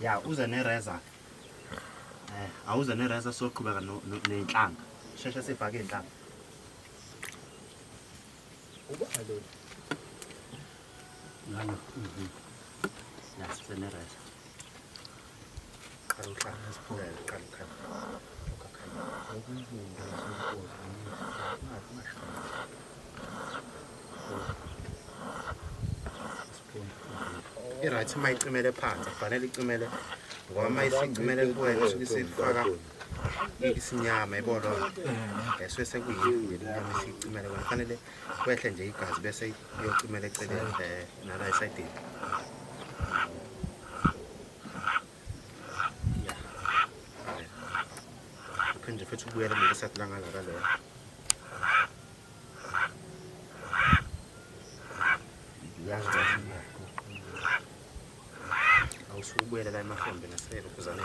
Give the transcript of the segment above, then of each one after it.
ya uze nereza eh awuze nereza soqhubeka nenhlanga sheshe sifake inhlanga ubona lo ngani mhm ya size nereza i-right uma icimele phansi kufanele icimele ngoba uma isicimele kuwena usuke isifaka isinyama ibona esuke sekuyini inyama isicimele kona kufanele kwehle nje igazi bese iyocimela eceleni eh, nala esayidini Phinde futhi ukubuyela mina esathi langa la kaloya. Yazi kahle. Awusuke ubuyela la emahombe naselo kuzana.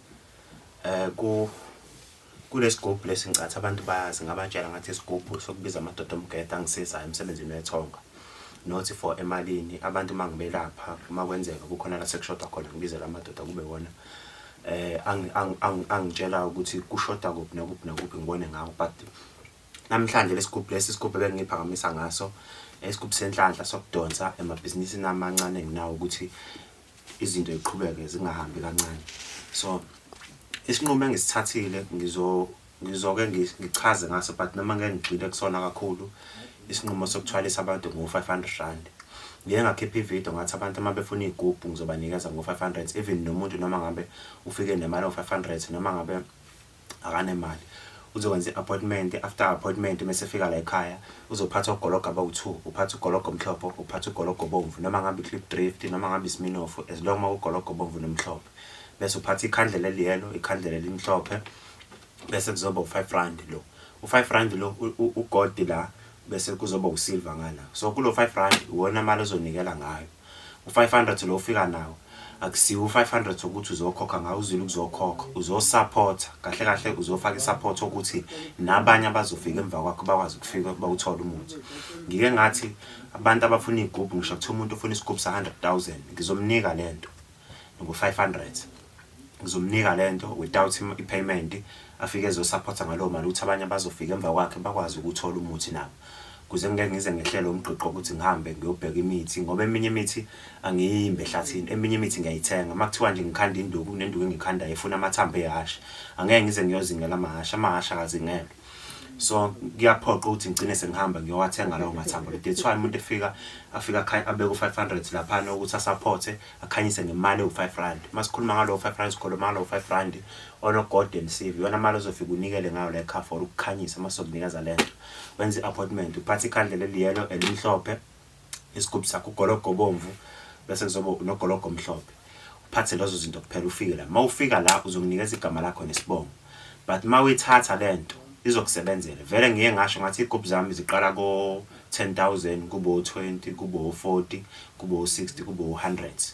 Eh ku kulesigubhu lesi ngicathi abantu bayazi ngabatshela ngathi isigubhu sokubiza amadoda omgeda angisizayo emsebenzini wethonga not for emalini abantu uma ngibelapha uma kwenzeka kukhona la sekushoda khona ngibizela amadoda kube wona eh angitshela ukuthi kushoda kuphi nokuphi nokuphi ngibone ngawo but namhlanje lesigubhu lesi isigubhu ebengiphakamisa ngaso isigubhu senhlanhla sokudonsa emabhizinisini amancane enginawo ukuthi izinto ziqhubeke zingahambi kancane so isinqumo engisithathile ngizo ngizoke ngichaze ngaso but noma ngeke ngigxile kusona kakhulu isinqumo sokuthwalisa abantu ngo-500 rand ngike ngakhipha ividiyo ngathi abantu uma befuna iy'gubhu ngizobanikeza ngo-500 even nomuntu noma ngabe ufike nemali o-500 noma ngabe akanemali uzokwenza i-appointment after appointment uma esefika la ekhaya uzophatha ugologo abawu-two uphatha ugologo omhlophe uphatha ugologo obomvu noma ngabe i-clip drift noma ngabe isiminofu as long uma ugologo obomvu nomhlophe bese uphatha ikhandlela eliyelo ikhandlela elimhlophe bese kuzoba u-five rand lo u-five rand lo ugodi la bese kuzoba usilva ngala so kulo-five rand iwona mali ozonikela ngayo U 500 lo ofika nawo akusiwo u 500 wokuthi uzokhokha ngawo uzile ukuzokhokha uzo support kahle kahle uzofaka i support ukuthi nabanye abazofika emva kwakho bakwazi ukufika kuba uthole umuthi ngike ngathi abantu abafuna igubhu ngisho kuthiwa umuntu ufuna isigubhu sa 100000 ngizomnika lento ngo 500 ngizomnika lento without him ipayment afike ezosupporta ngalowo mali ukuthi abanye abazofika emva kwakhe bakwazi ukuthola umuthi nabo kuze ngeke ngize ngehlele umgqigqo ukuthi ngihambe ngiyobheka imithi ngoba eminye imithi angiyimbe ehlathini eminye imithi ngiyayithenga uma kuthiwa nje ngikhanda induku kunenduku engikhandayo efuna amathambo ehhashi angeke ngize ngiyozingela amahhashi amahhashi akazingelwe so kuyaphoqa ukuthi ngigcine sengihamba ngiyowathenga lawo mathambo that's why umuntu efika afika abeke u-500 laphana ukuthi asaphothe akhanyise ngemali ewu-5 rand uma sikhuluma ngalowo 5 rand sikhuluma ngalowo 5 rand onogolden sieve iyona mali ozofika unikele ngayo le car for ukukhanyisa uma sokunikeza le nto wenza i-appointment uphathe ikhandlela eliyelo elimhlophe isigubhu sakho ugologo obomvu bese kuzoba unogologo omhlophe uphathe lezo zinto kuphela ufike la mawufika la uzonginikeza igama lakho nesibongo but mawuyithatha lento izokusebenzela vele ngiye ngasho ngathi igubhu zami ziqala ko 10000 kube u20 kube u40 kube u60 kube u100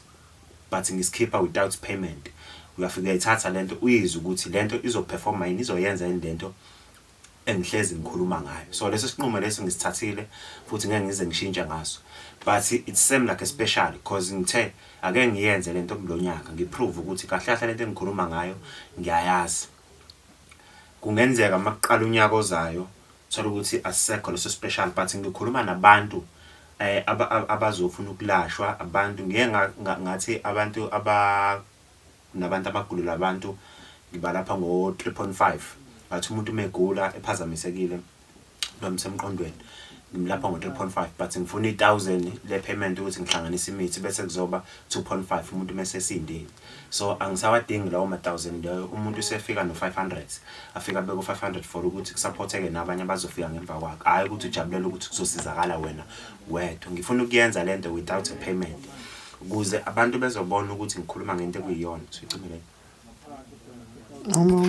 but ngisikhipha without payment uyafika uyithatha lento uyizwe ukuthi lento izoperforma yini izoyenza yini lento engihlezi ngikhuluma ngayo so lesi sinqumo lesi ngisithathile futhi ngeke ngize ngishintshe ngaso but it seem like a special because ngithe ake ngiyenze lento kulonyaka ngiprove ukuthi kahle kahle lento engikhuluma ngayo ngiyayazi kungenzeka makuqala unyaka ozayo thola ukuthi asisekho leso special but ngikhuluma nabantu eh abazofuna ukulashwa abantu ngeke ngathi abantu aba Kunabantu abagulelwa abantu ngibalapha ngo 3.5 but umuntu uma egula ephazamisekile noma isemqondweni ngimlapha ngo 3.5 but ngifuna i 1000 le payment ukuthi ngihlanganise imithi bese kuzoba 2.5 umuntu uma esesindile so angisawadingi lawo ma 1000 leyo umuntu usefika no 500 afika beko 500 for ukuthi kusupporteke nabanye abazofika ngemva kwakhe hayi ukuthi ujabulela ukuthi kuzosizakala wena wedwa ngifuna ukuyenza lento without a payment Kuze abantu bezobona ukuthi ngikhuluma ngento ekuyiyona. Sicimile.